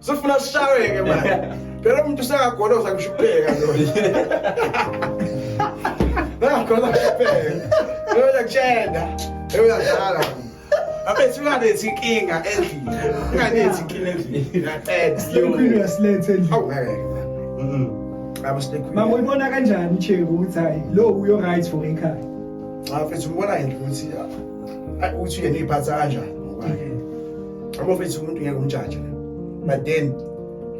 Sifuna sishayeke manje. Phela umuntu usakagoloza kushubheka lo. Nakhoza kushubheka. Loya kutshenda. Loya dlala. Abethi unganethi inkinga endlini. Unganethi inkinga endlini. Ngiyaqeda. Slay queen uyasiletha endlini. Awu ngeke. Mhm. Abo slay queen. Mama uyibona kanjani icheke ukuthi hayi lo uyo right for ekhaya. Cha mfethu ubona yini ukuthi ah, ukuthi yena iphatha kanjani? abofethu umuntu ngeke umjaje but then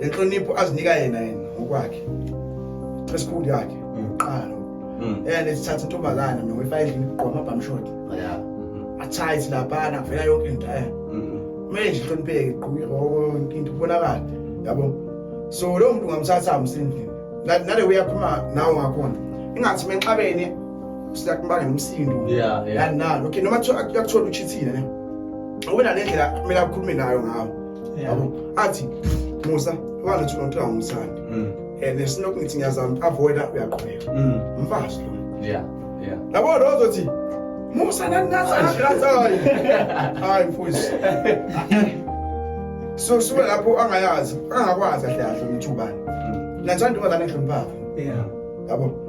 le nhlonipho azinika yena yena ngokwakhe esikhulu yakhe uqala mm. and esithatha intombazana nowifa endlini kugqoma bamshot athayi silabana vela yonke into eh manje mm. ihlonipheke igquke yonke into ubonakala yabo so lo muntu ngamthatha amsindini nale uyaphuma nawo ngakhona ingathi menxabene siyakumbanga nomsindo yeah, yeah. yani nalo okay noma yakuthola uchithile ne awena nendlela kumele akhulume nayo ngawo yabo athi musa walethu lonto angumsandi mm. and esinoku ngithi ngiyazama avoida uyaqhubeka mm. mfazi lo yeah yeah yabo lo uzothi musa naninasagrazayo hayi mfowethu so suke lapho angayazi angakwazi ahle ahle umthubani mm. nathanda ubazane nhlomphapho yeah yabo